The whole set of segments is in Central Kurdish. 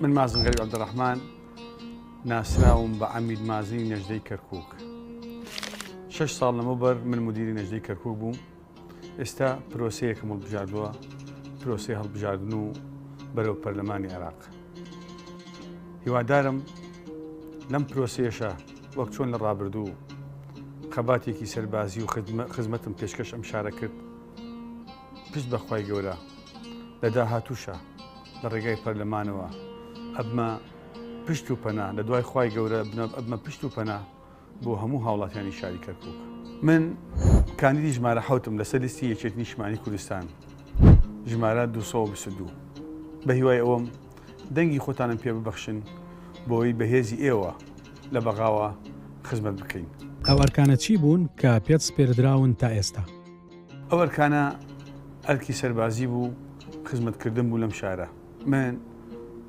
من مازن غەریب عەبدولڕەحمان ناسراوم بە عەمید مازنی نەژدەی کەرکووک شەش ساڵ لەمەوبەر من مدیری نەژدەی کەرکووک بووم ئێستا پرۆسەیەکم هەڵبژاردووە پرۆسی هەڵبژاردن و بەرەو پەرلەمانی عێراق هیوادارم لەم پرۆسێشە وەک چۆن لە ڕابردوو خەباتێکی سەربازی و خزمەتم پێشکەش ئەم شارە کرد پشت بەخوای گەورە لە داهاتووشە لە ڕێگای پەرلەمانەوە ئەبمە پشت و پەنا لە دوای خوای گەورە بنەب ئەبمە پشت و پەنا بۆ هەموو هاوڵاتیانی شاری کەرکک من کاندیدی ژمارە حوتم لەسەر لیستی یەکێت نیشمانی کوردستان ژمارە 222 بە هیوای ئەوەم دەنگی خۆتانم پێ ببەخشن بۆی بەهێزی ئێوە لە بەغاوە خزمەت بکەین. ئەو ئەرکانە چی بوون کە پێت سپێردراون تا ئێستا؟ ئەو ئەرکانە ئەرکی سەربازی بوو خزمەتکردن بوو لەم شارە من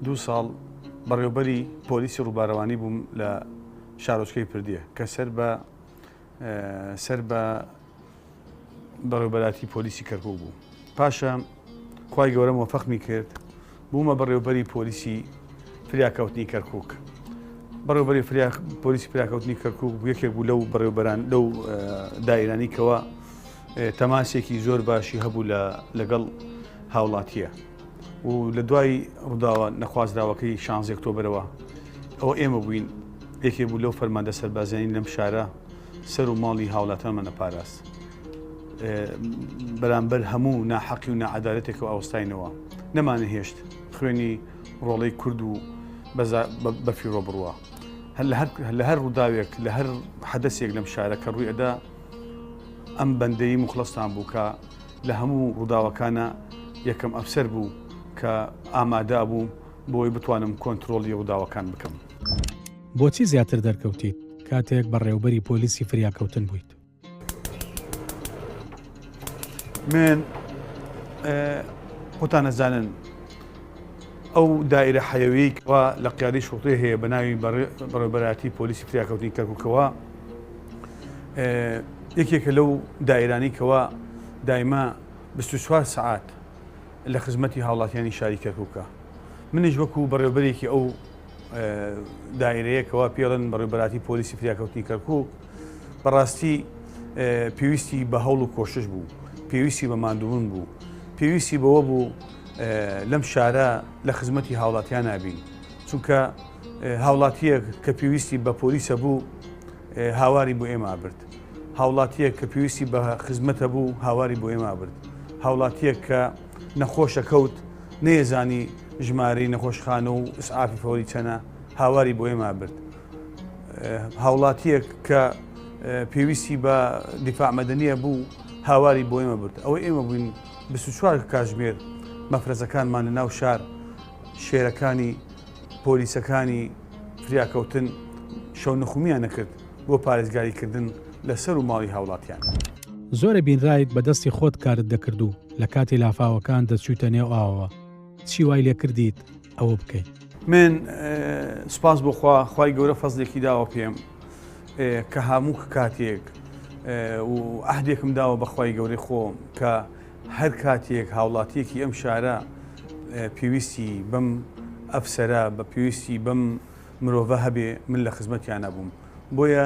دوو ساڵ بەڕێوبەری پۆلیسی ڕووبارەوانی بووم لە شارۆچکەی پردیە کە سەر بە سەر بە بەڕێوبەراتی پۆلیسی کەرکک بوو پاشە خی گەورەم وەفەقمی کرد بوومە بەڕێوبەری پۆلیسی فریاکەوتنی کەرکوک بەڕێوبەری پۆلیسی فریاکەوتنی کەرکوک بوو یەکێک بوو لەو بەڕێوبەران لەو دایرانی کەەوە تەماسێکی زۆر باشی هەبوو لە لەگەڵ هاوڵاتیە و لە دوای ڕووداوە نەخوازراوەکەی شانزێکتۆبرەوە ئەوە ئێمە بووین یەکێ بوو لەو فەرماندە سەربازیانی لەم شارە سەر و ماڵی هاوڵاتیانمان نەپاراست. بەرامبەر هەموو ناحەقی و ناعەدالەتێک و ئاوستاینەوە، نەماننەهێشت خوێنی ڕۆڵەی کورد و بەزا بەفیڕۆ بڕوا. لە هەر ڕووداوێک، لە هەر حەدەسێک لەم شارە کە ڕووی ئەدا، ئەم بەندەی موخڵەستان بوو کە لە هەموو ڕووداوەکانا یەکەم ئەفسەر بوو کە ئامادا بوو بۆ ئەوەی بتوانم کۆنترۆڵی ڕووداوەکان بکەم. بۆچی زیاتر دەرکەوتیت کاتێک بەڕێوبەری پۆلیسی فریاکەوتن بوویت؟ من خۆتان ئەزانن ئەو دایرە حەیەویی کەوا لە قیادی شوڵتێ هەیە بە ناوی بەڕێبەراتی پۆلیسی فریاکەوتنی کەرککەوە یەکێکە لەو دایرانی کەوا دایمە 24 سعات لە خزمەتی هاوڵاتیانی شاری کەرککە منیش وەکو بەڕێوبەرێکی ئەو دایرەیە کەوا پێڵێن بەڕێبەراتی پۆلیسی فریاکەوتنی کەرکک بەڕاستی پێویستی بە هەوڵ و کۆشش بوو پێویستی بە مادوون بوو پێویستی بەوە بوو لەم شارە لە خزمەتی هاوڵاتیان نابین چونکە هاوڵاتیەک کە پێویستی بە پۆلیسە بوو هاواری بۆ ئێمە برد هاوڵاتیەک کە پێویستی بە خزمەتە بوو هاواری بۆ ئێمە برد هاوڵاتیەک کە نەخۆشە کەوت نەیەزانی ژمارەی نەخۆشخانە و ئسعافی فەوری چەنە هاواری بۆ ئێما برد هاوڵاتیەک کە پێویستی بە دیفاعمەدەنیە بوو هاواری بۆ ئێمە برد ئەوەی ئێمە بووین 24 کاژمێر مەفرەزەکانمان لە ناو شار شێرەکانی پۆلیسەکانی فریاکەوتن شەو نخومیان نەکرد بۆ پارێزگاریکردن لەسەر و ماڵی هاوڵاتیان. زۆرە بینرایت بەدەستی خۆت کارت دەکردو. لە کاتی لافاوەکان دەتچوویتە نێو ئاوەوە، چی وای لێ کردیت ئەوە بکەی؟ من، سوپاس بۆ خوا، خوای گەورە فەزلێکی داوە پێم کە هاموو کاتێک و عەهدێکم داوە بە خوای گەورەی خۆم کە هەر کاتێک هاوڵاتییەکی ئەم شارە پێویستی بەم ئەفسەرە، بە پێویستی بەم مرۆڤە هەبێ، من لە خزمەتیانا بووم. بۆیە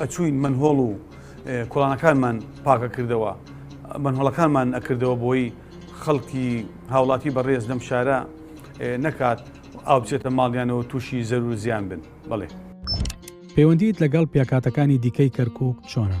ئەچووین مەنهۆڵ و کۆڵانەکانمان پاکەکردەوە، مەنهۆڵەکانمان ئەکردەوە بۆی خەڵکی هاوڵاتی بەڕێز لەم شارە نەکات ئاو بچێتە ماڵیانەوە تووشی زەرور و زیان بن. بەڵێ. پەیوەندیت لەگەڵ پێکهاتەکانی دیکەی کەرکووک چۆنە؟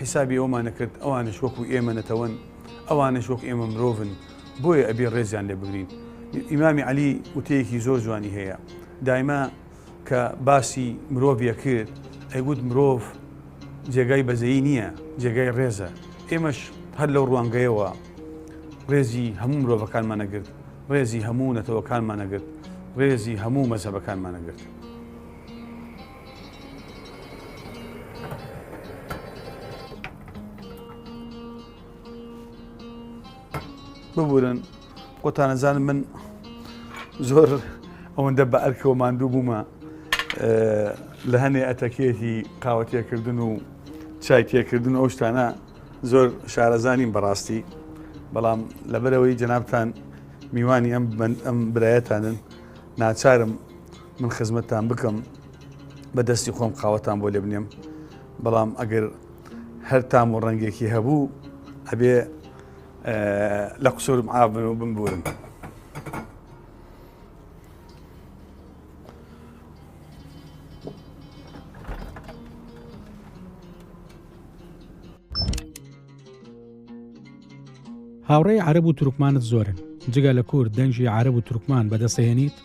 حیسابی ئەومان ئەکرد ئەوانش وەکو ئێمە نەتەوەن ئەوانش وەک ئێمە مرۆڤن بۆیە ئەبێ ڕێزیان لێ بگرین ئیمامی عەلی وتەیەکی زۆر جوانی هەیە دایمە کە باسی مرۆڤ یەکرد ئەیگوت مرۆڤ جێگای بەزەیی نییە جێگای ڕێزە ئێمەش هەر لەو ڕوانگەیەوە ڕێزی هەموو مرۆڤەکانمانەگرت ڕێزی هەموو نەتەوەکانمانەگرت ڕێزی هەموو مەزەبەکانمانەگرت. ببورن خۆتان ئەزانن من زۆر ئەوەندە بە ئەرکەوە ماندوو بوومە لە هەنێ ئەتەکێتی قاوەتێکردن و چای تێکردن ئەو شتانە زۆر شارەزانین بەڕاستی بەڵام لەبەرەوەی جەنابان میوانی ئەم ئەم برایەتانن ناچارم من خزمەتتان بکەم بە دەستی خۆم قاوەتان بۆ لێ بنێم بەڵام ئەگەر هەر تام و ڕەنگێکی هەبوو ئەبێ لە قسوورم ئابن و بمبورن. هاوڕێی عرب و تورکمانت زۆرن جگە لە کورد دەنجی عرب و تورکمان بەدەسەهێنیت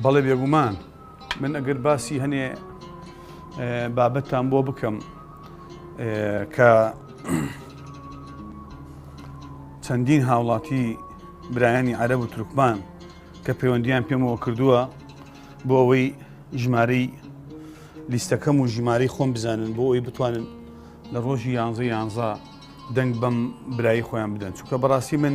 بەڵێ بێگومان من ئەگەر باسی هەنێ بابەتان بۆ بکەم کە چەندین هاوڵاتی برایانی عەرەب و تورکمان کە پەیوەندیان پێمەوە کردووە بۆ ئەوەی ژمارەی لیستەکەم و ژمارەی خۆم بزانن بۆ ئەوی بتوانن لە ڕۆژی یانزە یانزە دەنگ بەم برایی خۆیان بدەن چونکە بەڕاستی من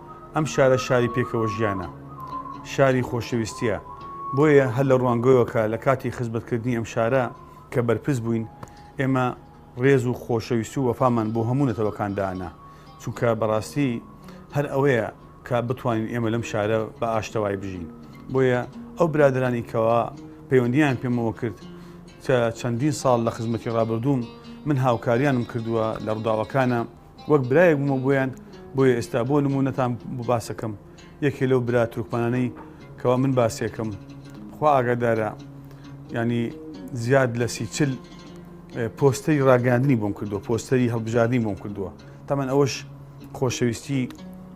ئەم شارە شاری پێکەوە ژیانە، شاری خۆشەویستییە، بۆیە هەر لە ڕوانگەوەکە لە کاتی خزمەتکردنی ئەم شارە کە بەرپرس بووین، ئێمە ڕێز و خۆشەویستی و وەفامان بۆ هەموو نەتەوەکان دائەنا، چونکە بەڕاستی هەر ئەوەیە کە بتوانین ئێمە لەم شارە بە ئاشتەوای بژین، بۆیە ئەو برادەرانی کەوا پەیوەندییان پێمەوە کرد کە چەندین ساڵ لە خزمەتی ڕابردووم من هاوکاریانم کردووە لە ڕووداوەکانە، وەک برایەک بوومە بۆیان، بۆیە ئێستا بۆ نموونەتان بۆ باسەکەم، یەکێ لەو برا تورکمانانەی کەوا من باسیەکەم، خوا ئاگادارە یانی زیاد لە سی چل پۆستەری ڕاگەیاندنی بۆم کردووە، پۆستەری هەڵبژاردنی بۆم کردووە، تەمان ئەوەش خۆشەویستی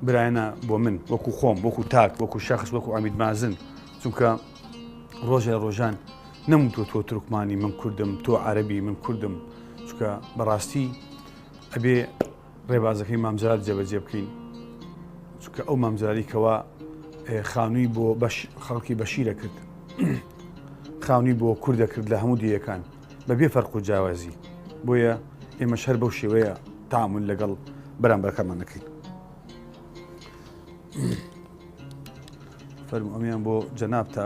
برایانە بۆ من وەکو خۆم وەکو تاک وەکو شخص وەکو ئەمید مازن چونکە ڕۆژە لە ڕۆژان نەموتوە تۆ تورکمانی من کوردم تۆ عەربی من کوردم چکە بەڕاستی ئەبێ ڕێبازەکەی مامزار جێبەجێ بکەین چونکە ئەو مامزاری کەوا خانووی بۆ بەش خەڵکی بەشیرە کرد خانووی بۆ کووردە کرد لە هەموو دیەکان بەبێ فەرق و جیاوازی بۆیە ئێمە شەر بەو شێوەیە تامون لەگەڵ بەرامبەرەکەمان نەکەین فەرم ئەمیان بۆ جەناب تا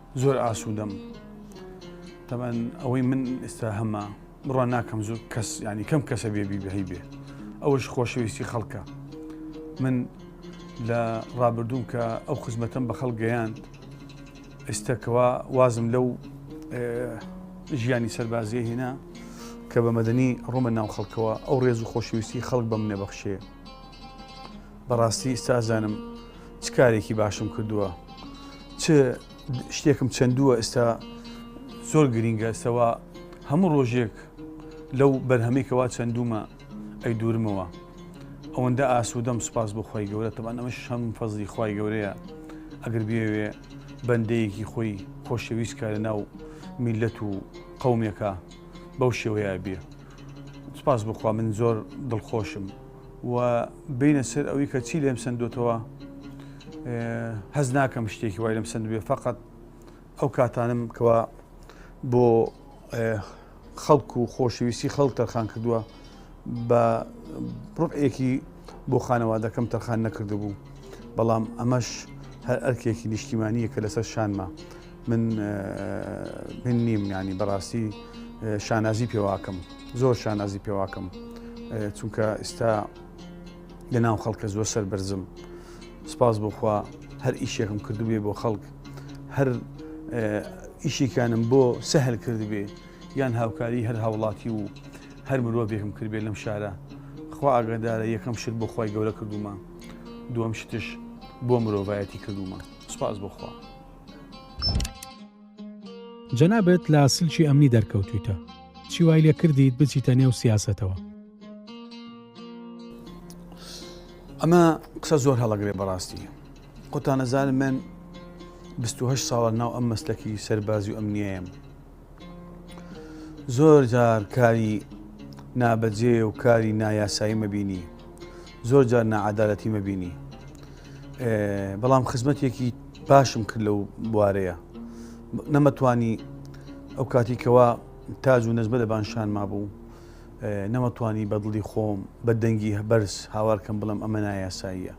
زۆر ئاسوودەم تەبەن ئەوەی من ئێستا هەمە بڕوان ناکەم زۆر کەس ینی کەم کەسە بێ بیبهی بێ ئەوش خۆشەویستی خەڵکە من لە ڕابردووم کە ئەو خزمەتم بە خەڵ گەیاند ئێستەکەوا وازم لەو ژیانی سەربازیە هێنا کە بە مەدەنی ڕۆمە ناو خەڵکەوە ئەو ڕێز و خۆشویستی خەڵک بەم نەبەخشێ بەڕاستی ئیستا ئەزانم چ کارێکی باشم کردووە چ شتێکم چەندووە ئێستا زۆر گرینگە ئێستاوا هەموو ڕۆژێک لەو بەرهەمێکەوە چەندومە ئەی دوورمەوە ئەوەندە ئاسوودەم سوپاس بۆ خی گەورە تەبان ئەمە شەم فەزلی خی گەورەیە ئەگەر بێوێ بەندەیەکی خۆی خۆشەویست کارە ناو میلەت و قومێکە بەو شێوەیە بێ سوپاس بخوا من زۆر دڵخۆشم و بێینە سەر ئەوی کە چی لێم سندوتەوە هەز ناکەم شتێکی وای لەم سندوێ فقط ئەو کاتانم کەوا بۆ خەڵک و خۆشەویستی خەڵک تەرخان کردووە بە ڕوئێکی بۆ خانەوادەکەم تەرخان نەکردبوو بەڵام ئەمەش هەر ئەرکێکی نیشتیمانیە کە لەسەر شانمە من من نیم یانی بەڕاستی شانازی پێواکەم زۆر شانازی پێواکەم چونکە ئستا لە ناو خەڵکە زۆر سەر بەرزم سپاس بۆخوا هەر ئیشێکم کردوێ بۆ خەڵک هەر ئیشیکانم بۆ سەهل کردبێ یان هاوکاری هەر هاوڵاتی و هەر مرۆڤێکم کردبێ لەم شارە خوا ئاگادارە یەکەم شت بۆ خی گەورە کردومە دووەم شتش بۆ مرۆڤایەتی کردومە سپاس بۆخوا. جەنابت لە سلکی ئەمنی دەرکەوتویتە چی وای لێ کردیت بچیتە نێو سیاسەتەوە. ئەمە قسە زۆر هەڵەگرێ بەڕاستی قوتانەزار من 28 ساڵە ناو ئەم مەسلەکی سەربازی و ئەمنیەیەم زۆر جار کاری نابەجێ و کاری نایاسایی مەبینی زۆر جار نەعادالەتی مەبینی بەڵام خزمەتێکی باشم کرد لەو بوارەیە نەمەتوانی ئەو کاتی کەوا تاج و نەزمە لەبان شان مابوو نەمەتوانی بەدڵی خۆم بە دەنگی هەبەرز هاوارکەم بڵم ئەمە نایاساییە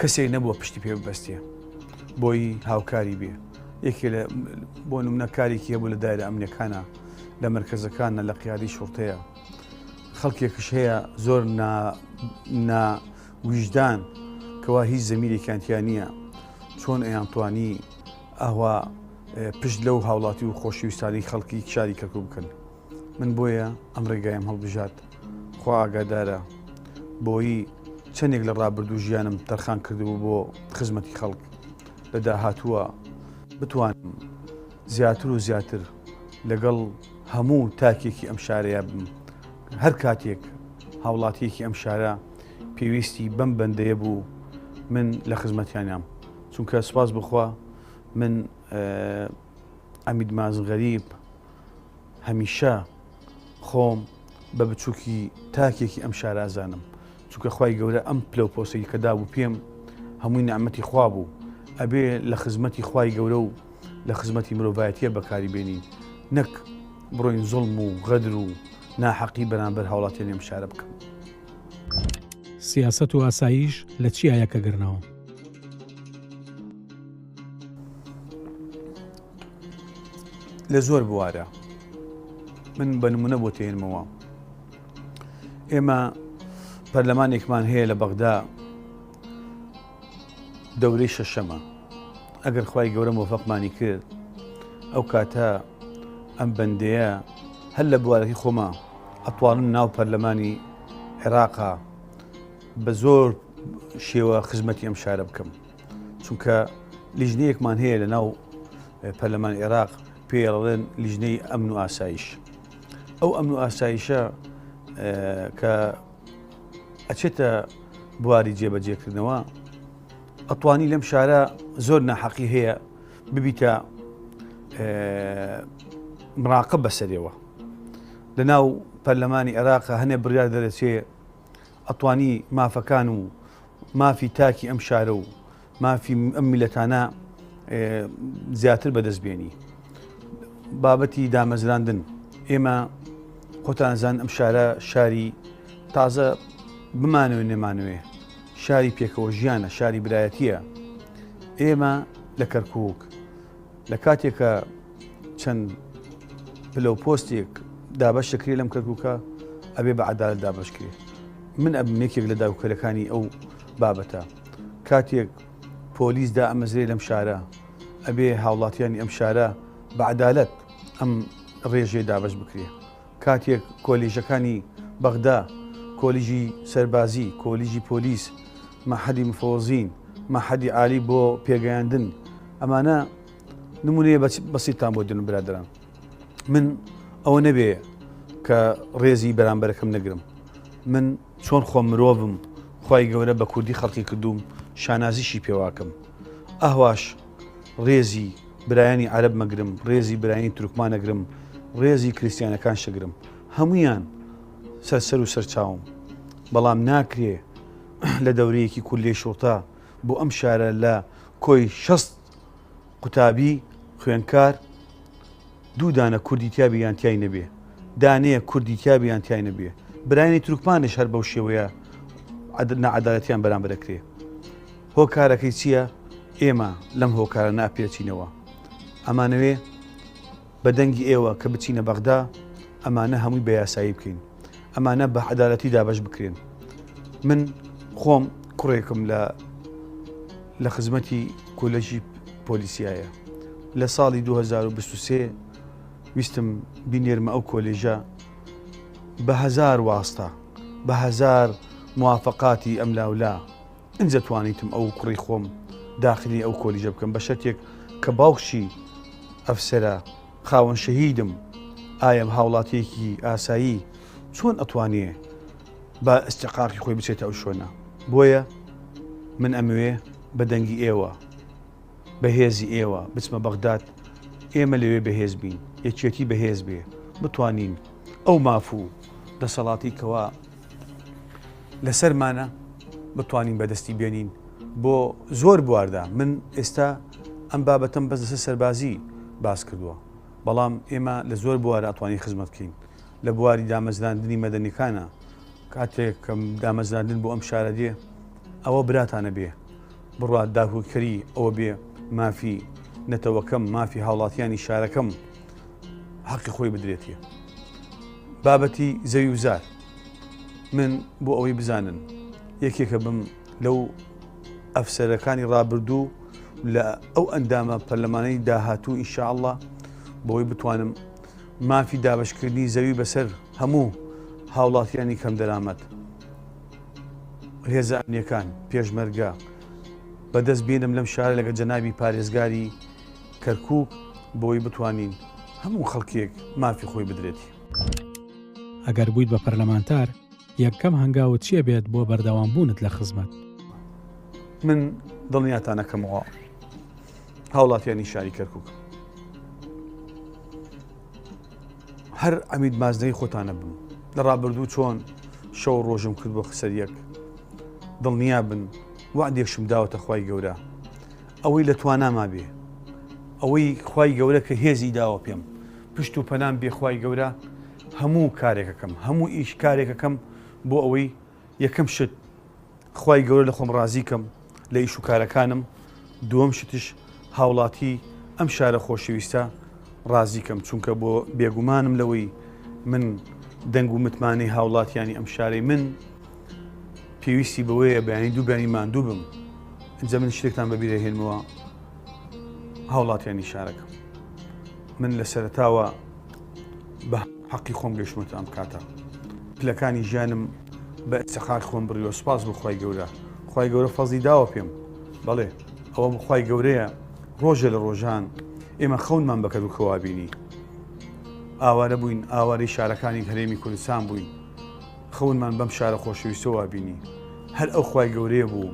کەسێک نەبووە پشتی پێ ببەستێ بۆی هاوکاری بێ یەکێ لە بۆ نمونە کارێکی هەبوو لە دایرە ئەمنەکانە لە مرکزەکانە لە قیادی شوڕتەیە خەڵکێکش هەیە زۆر ویژدان کەوا هیچ زەمیرێکیانتیا نییە چۆن ئەیانتوانی ئەوە پشت لەو هاوڵاتی و خۆشویستانی خەڵکی شاری کەرکک بکەن من بۆیە ئەم ڕێگایم هەڵبژارد. خوا ئاگادارە بۆیی چەندێک لە ڕابردوو ژیانم تەرخان کردبوو بۆ خزمەتی خەڵک، لە داهاتووە بتوانم زیاتر و زیاتر لەگەڵ هەموو تاکێکی ئەم شارەیا بم. هەر کاتێک هاوڵاتییەکی ئەم شارە پێویستی بەم بەندەیە بوو من لە خزمەتیانام، چونکە سوپاس بۆ خوا من عەمید ماز غەریب هەمیشە خۆم بە بچووکی تاکێکی ئەم شارازانم چونکە خی گەورە ئەم پلە و پۆسی کە دابوو پێم هەمووی نعممەتی خوا بوو ئەبێ لە خزمەتی خی گەورە و لە خزمەتی مرۆڤایەتە بەکاری بێنین نەک بڕۆین زۆڵم و غەدر و ناحەقی بەرامبەر هاوڵاتی نێم شارە بکەم. سیاسەت و ئاساییش لە چیایە کە گرنەوە؟ لە زۆر بوارە من بە نمونە بۆ تێنمەوە ئێمە پەرلەمانێکمان هەیە لە بەغدا دەورەی شەشەمە ئەگەر خی گەورە مۆفەقمانی کرد ئەو کاتە ئەم بەندەیە هەر لە بوارەکەی خۆما ئەتوانم ناو پەرلەمانی عێراقا بە زۆر شێوە خزمەتی ئەم شارە بکەم چونکە لیژنەیەکمان هەیە لە ناو پەرلەمان عێراق پێڵێن لیژنەی ئەمن و ئاسایش ئەو ئەمن و ئاسایشە کە ئەچێتە بواری جێبەجێکردنەوە ئەتوانی لەم شارە زۆر ناحەقی هەیە ببیتە مراقب بەسەرەوە لە ناو پەرلەمانی عێراق هەنێ بڕیار دەرەچێ ئەتوانی مافەکان و مافی تاکی ئەم شارە و مافی ئەم میلەتانە زیاتر بەدەست بێنی بابەتی دامەزراندن ئێمە خۆتانزان ئەم شارە شاری تازە بمانەوە نەمانوێ شاری پێکەوە ژیانە شاری برایەتیە ئێمە لە کەرکک لە کاتێکا چەند پلە و پۆستێک دابەش دەکرێت لەم کەرکووکە ئەبێ بە عەدالەت دابەش کرێت من ئەبم یەکێک لە داوکەرەکانی ئەو بابەتە کاتێک پۆلیس دا ئەمەزرێ لەم شارە ئەبێ هاوڵاتیانی ئەم شارە بە عەدالەت ئەم ڕێژێ دابەش بکرێت کاتێک کۆلیژەکانی بەغدا، کۆلیژی سەربازی، کۆلیژی پۆلیس، مەحەدی مفەوەزین، مەحەدی عالی بۆ پێگەیاندن، ئەمانە نمونەیە بەسیتتان بۆ دێنم برادەران، من ئەوە نەبێ کە ڕێزی بەرامبەرەکەم نەگرم، من چۆن خۆم مرۆڤم خوای گەورە بە کوردی خەڵقی کردووم شانازیشی پێواکەم ئەهواش ڕێزی برایانی عەرەب مەگرم ڕێزی برایانی تورکمانەگرم ڕێزی کریسیانەکان شەگرم هەمویان سەرسەر و سەرچاوم بەڵام ناکرێ لە دەورەیەکی کول لێ شوڕتە بۆ ئەم شارە لە کۆی شەست قوتابی، خوێندکار، دوو دانە کوردی تیابێ یان تای نەبێ، دانەیە کوردی تیابێ یان تای نەبێ، برایانی تورکمانش هەر بەو شێوەیە نەعەدالەتیان بەرامبەر دەکرێ. هۆکارەکەی چییە؟ ئێمە لەم هۆکارە ناپێچینەوە. ئەمانەوێ بە دەنگی ئێوە کە بچینە بەغدا ئەمانە هەمووی بە یاسایی بکەین ئەمانە بە عەدالەتی دابەش بکرێن من خۆم کوڕێکم لە لە خزمەتی کۆلەژی پۆلیسیایە لە ساڵی 2023 ویستم بینێرمە ئەو کۆلێژە بە هزار واستە بە هزار موافقاتی ئەم لاولا ئینجا توانیتم ئەو کوڕی خۆم داخلی ئەو کۆلیژە بکەم بە شەرتێک کە باوکشی ئەفسەرە خاوەن شەهیدم ئایم هاوڵاتیەکی ئاسایی چۆن ئەتوانێ بە ئستقاقی خۆی بچێتە ئەو شوێنە بۆیە من ئەموێ بە دەنگی ئێوە بەهێزی ئێوە بچمە بەغداد ئێمە لەوێ بەهێز بین یەکێتی بەهێز بێ بتوانین ئەو مافوو دەسەڵاتی کەوا لەسەرمانە بتوانین بەدەستی بێنین بۆ زۆر بواردا من ئێستا ئەم بابەتم بەس لەسەر سەربازی باس کردووە بەڵام ئێمە لە زۆر بوارە ئەتوانی خزمەت بکەین لە بواری دامەزراندنی مەدەنیەکانە کاتێک کەم دامەزراندن بۆ ئەم شارە دێ ئەوە براتانە بێ بڕوا داهوکری ئەوە بێ مافی نەتەوەکەم مافی هاوڵاتیانی شارەکەم حەقی خۆی بدرێتە بابەتی زەوی وزار من بۆ ئەوەی بزانن یەکێکە بم لەو ئەفسەرەکانی ڕابردوو لە ئەو ئەندامە پەرلەمانەی داهاتوو ئیشاءله بۆی بتوانم مافی دابشکردنی زەوی بەسەر هەموو هاوڵاتیانی کەم دەرامەت هێزە ئەمنیەکان پێشمەرگە بەدەست بێنم لەم شارە لەگە جەنابی پارێزگاری کەرکک بۆی بتوانین هەموو خەڵکێک مافی خۆی بدرێتی. ئەگەر بوویت بە پەرلەمانتار یەکەم هەنگاوت چیە بێت بۆ بەردەوام بوونت لە خزمەت؟ من دڵنیاتانەکەمەوە هاوڵاتیانی شاری کەرکک هەر عەمید مازنەی خۆتانە بن لە ڕابردوو چۆن شەو ڕۆژم کرد بۆ خسەر یەک دڵنیا بن وعدێکشم داوەتە خی گەورە ئەوەی لە تواناما بێ ئەوەی خی گەورە کە هێزی داوە پێم پشت و پەنام بێخوای گەورە هەموو کارێکەکەم هەموو ئیش کارێکەکەم بۆ ئەوەی یەکەم شت خوای گەورە لە خۆم ڕازیکەم لە ئیش و کارەکانم دووەم شتش هاوڵاتی ئەم شارە خۆشەویستە ڕازیکەم چونکە بۆ بێگومانم لەوەی من دەنگ و متمانەی هاوڵاتیانی ئەم شارەی من پێویستی بەوەیە بەیانی دوو بەنی ماندوو بم ئەجا من شتێکتان بەبیرە هێنمەوە هاوڵاتیانی شارەکەم من لە سەرتاوە بە هەقی خۆم گەشتمەتە ئەم کاتە پلەکانی ژیانم بە ئیفتخار خۆم بڕیوە سپاس بۆ خی گەورە خی گەورە فەزی داوە پێم بەڵێ ئەوە بخوای گەورەیە ڕۆژێ لە ڕۆژان ئێمە خەونمان بەکەر و کەوابینی ئاوارە بووین ئاوارەی شارەکانی هەرێمی کوردستان بووین خەونمان بەم شارە خۆشەویستەوە بینی هەر ئەو خی گەورەیە بوو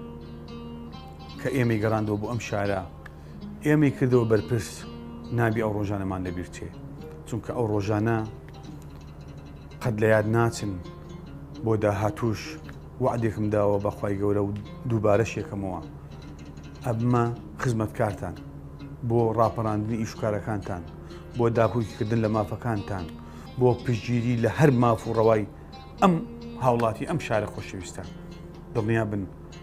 کە ئێمەی گەڕاندەوە بۆ ئەم شارە ئێمەی کردەوە بەرپرس نابی ئەو ڕۆژانەمان لەبیرچێ چونکە ئەو ڕۆژانە قەت لە یاد ناچن بۆ داهاتوش وعدێکم داوە بەخوای گەورە و دووبارە شێکەمەوە ئەبمە خزمەتکارتان بۆ ڕاپەڕاندنی ئیشکارەکانتان بۆ داکوکیکردن لە مافەکانتان بۆ پشگیری لە هەر ماف و ڕەوای ئەم هاوڵاتی ئەم شارە خۆشەویستە دڵنیا بن